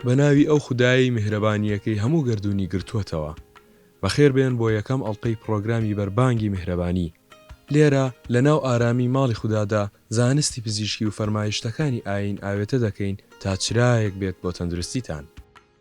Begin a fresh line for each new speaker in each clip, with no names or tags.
بە ناوی ئەو خودایەی میهرەبانییەکەی هەموو گەردوونی گرتووەتەوە. بەخێربێن بۆ یەکەم ئەڵقەی پڕۆگرامی بەربانگی میهرەبانی. لێرە لەناو ئارامیی ماڵی خودادا زانستی پزیشکی و فەرمایشتەکانی ئایین ئاوێتە دەکەین تا چرایەک بێت بۆ تەندروستیتان.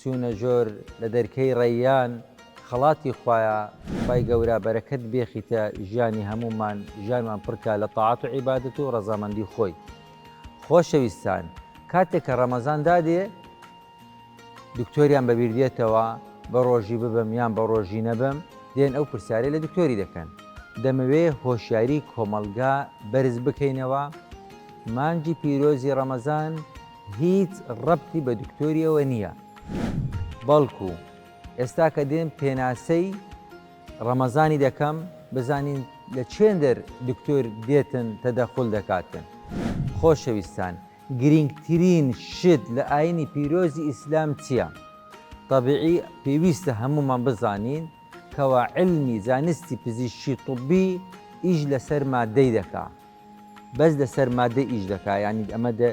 چونە ژۆر لە دەرکەی ڕەیان خەڵاتی خوایە خوای گەورە بەرەکەت بێخیتە ژیانی هەموومان ژیانمان پڕکا لە تاعەت و عیبادەت و ڕەزامەندی خۆی خۆشەویستان کاتێک کە ڕەمەزان دادێ دکتۆریان بەبیر دێتەوە بە ڕۆژی ببم یان بە ڕۆژی نەبم دێن ئەو پرسیارەی لە دکتۆری دەکەن دەمەوێ هۆشیاری کۆمەڵگا بەرز بکەینەوە مانگی پیرۆزی ڕەمەزان هیچ ڕەبتی بە دکتۆریەوە نیە بەڵکو ئێستا کە دێم پێناسەی ڕەمەزانی دەکەم بزانین لە چێندەر دکتۆر دێتن تەدەخول دەکاتن. خۆشەویستان گرینگترین شت لە ئاینی پیرۆزی ئیسلام چیە؟ تەبعی پێویستە هەموومان بزانین کەوا علمی زانستی پزیشکی طبی ئیش لەسەر مادەی دەکا. بەس لەسەر مادە ئیش دەکا یانی ئەمە دە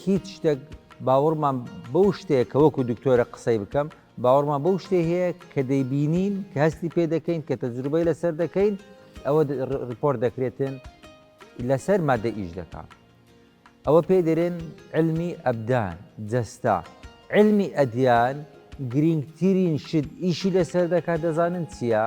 هیچ شتێک باوەڕمان بەو شتەیە کە وەکو دکتۆرە قسەی بکەم باوەڕمان بەو شتێ هەیە کە دەیبینین کە هەستی پێ دەکەین کە تەجروبەی لەسەر دەکەین ئەوە ڕپۆرت دەکرێتن لەسەر مادە ئیش دەکا ئەوە پێ دەرێن علمی ئەبدان جەستا علمی ئەدیان گرنگترین شت ئیشی لەسەر دەکات دەزانن چییە؟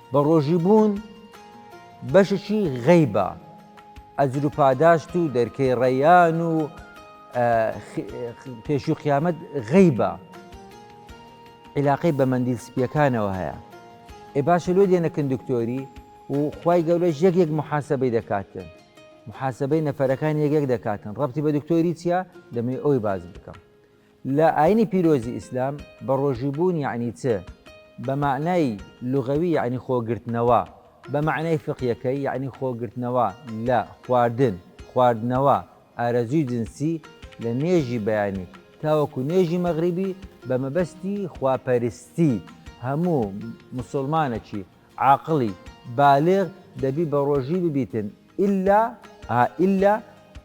بە ڕۆژی بوون بەشێکی غەیبە، ئەجر و پاداشت و دەرکەی ڕەیان و پێشوی قیامەت غەیبە عیلاقەی بە مەندیل سپیەکانەوە هەیە ئێ باشە لۆ دێنەکن دکتۆری و خی گەورەش یەک یەک محاسبەی دەکاتن محاسبەی نەفەرەکان یەکێک دەکاتن ڕەتی بە دکتۆری چییە دەمەی ئەوی باز بکەم لە ئاینی پیرۆزی ئیسلام بەڕۆژوو بوون یەعنی چ؟ بە مەعنای لوغەوی یەعنی خۆ گرتنەوە، بە مەعنای فقیەکەی یەعنی خۆ گرتنەوە لە خواردن، خواردنەوە، ئارەزووی جنسی لە نوێژی بەیانی تاوەکو نوێژی مەغریبی بە مەبەستی خوا پەرستی، هەموو مسوڵمانەکی عاقڵی بالغ دەبی بەڕۆژوی ببیتن ئیلا ئا ئیلا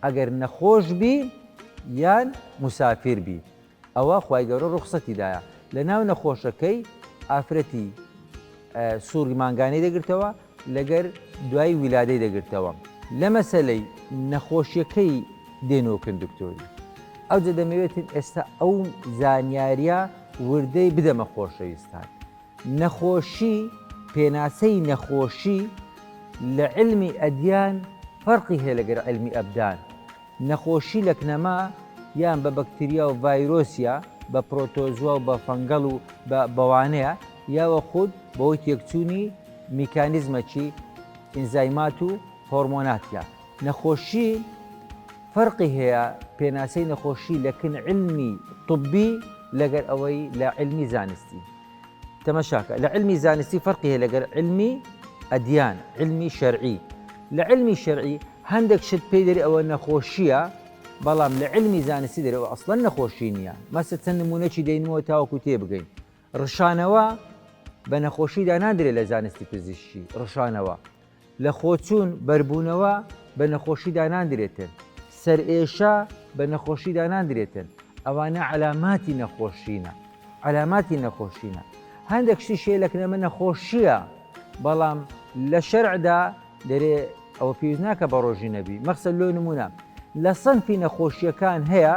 ئەگەر نەخۆش بی یان موسافیر بی ئەوە خوای گەورە ڕوخسەتی دایە لەناو نەخۆشەکەی ئافرەتی سوڕی مانگانەی دەگرتەوە لەگەر دوای ویلادەی دەگرتەوە لە مەسەلەی نەخۆشیەکەی دێنۆکن دکتۆری ئەوجە دەمەوێتن ئێستا ئەو زانیاریە وردەی بدەمە خۆشەویستان نەخۆشی، پێناسەی نەخۆشی لە عیلمی ئەدیان فەرقی هەیە لەگەر عیلمی ئەبدان، نەخۆشی لە کنەما یان بە بەکتریا و ڤایرۆس یا بە پرۆتۆزوا و بە فەنگەڵ و بە بەوانەیە یا وە خود بەهۆی تێکچوونی میکانیزمەکی ئینزایمات و هۆرمۆنات لە نەخۆشی فەرقی هەیە پێناسەی نەخۆشی لە کن عیلمی طبی لەگەر ئەوەی لە عیلمی زانستی. تەمەشاکە لە علمی زانستی فەرقی هەیە لەگەر علمی ئەدیان علمی شەرعی لە علمی شەرعی هەندێک شت پێی دەری ئەوە نەخۆشیە بەڵام لە علمی زانستی دەرەوە ئەسڵەن نەخۆشی نییە مەسە چەند نمونەی دەینەوە تاوەکو تێ بگەین ڕشانەوە بە نەخۆشیدا نادرێت لە زانستی پزیشکی ڕشانەوە لەخۆچوون، بەربوونەوە، بە نەخۆشی داناندرێتن. سەرئێشە، بە نەخۆشی داناندرێتن. ئەوانە عەلاماتی نەخۆشینە. عەلاماتی نەخۆشینە. هەندێک شتی شێلەکرێمە نەخۆشییە، بەڵام لە شەرعدا دەرێ ئەوە پێویست ناکە بە ڕۆژی نەبی. مەخسەن لۆ نموونە لە صنفی نەخۆشییەکان هەیە،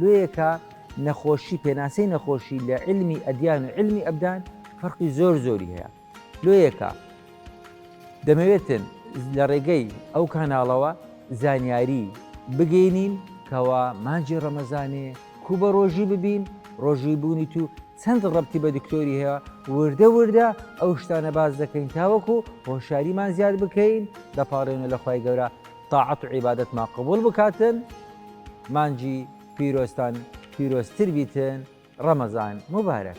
لۆیەکە نەخۆشی پێناسەی نەخۆشی لە علمی ئەدیان و علمی ئەبدان فەرقی زۆر زۆری هەیە لۆیەکە دەمەوێتن لە ڕێگەی ئەو کاناڵەوە زانیاری بگەینین کەوا مانجی ڕەمەزانێ کو بە ڕۆژی ببین ڕۆژی بوونی تو چەند ڕەبتی بە دکتۆری هەیە وردە وردە ئەو شتانە باز دەکەین تاوەکو هۆشاریمان زیاد بکەین دەپاڕێنە لە خی گەورە تاعەت و عیبادەتمان قبوڵ بکاتن مانگی پیرۆزتان پیرۆزتر بیتن ڕەمەزان موبارەک.